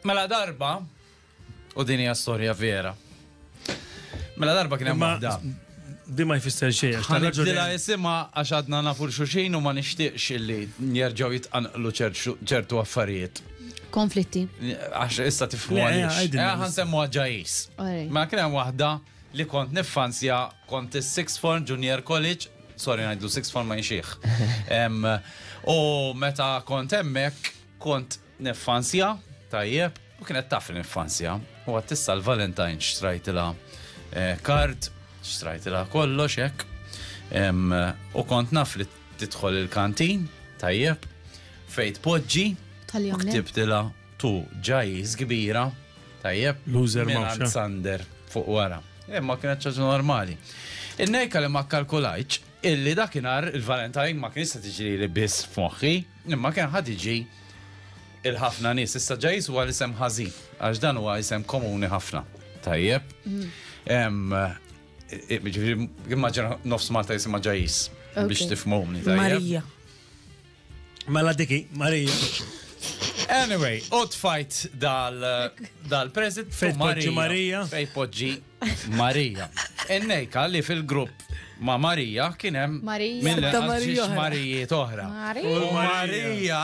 Mela darba, u din hija storja vera. Mela darba kien hemm waħda. Di ma jfisser xejn. Ħanibdilha jisimha għax għadna nafu xuxin u ma nixtieqx illi jerġgħu jitqanqlu ċertu affarijiet. Konflitti. Għax issa tifhmu għaliex. Eh, ħan semmu għagġajis. Ma kien hemm waħda li kont nifanzja kont is-Sixth Form Junior College, sorry ngħidlu Sixth Form ma jxieħ. U meta kont hemmhekk kont Niffanzja, tajjeb, u kienet taf niffanzja. U għat tissa l-Valentine xtrajtila eh, kart, xtrajtila kollox hekk. U kont naf li tidħol il-kantin, tajjeb, fejt poġġi, u ktibtila tu ġajjiż kbira, tajjeb, Loser Mawxa. Sander fuq wara. Imma eh, kienet ċaġa normali. Il-nejka li ma kalkulajċ, illi dakinhar il-Valentine ma kien se tiġri li biss f'moħħi, Imma kien ħa tiġi il-ħafna nies issa ġa jiswa l-isem ħażin, għax dan huwa isem komuni ħafna. Tajjeb. Immaġina nofs Malta jisimha ġajis biex tifmumni. Marija. Mela diki, Marija. Anyway, u tfajt dal-prezit. Fejpoġġi Marija. Fejpoġġi Marija. Ennejka li fil-grupp ma' Marija kien hemm mill-Marija Marijiet oħra. U Marija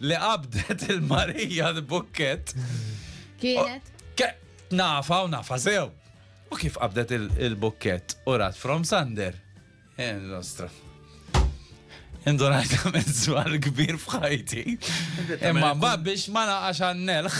li qabdet il-Marija l-bukket. Kienet? Nafa u nafa sew. U kif qabdet il-bukket u rat from Sander. Eh, nostra. Indunajt għamil zwar kbir fħajti. Imma biex ma naqax għannelħ.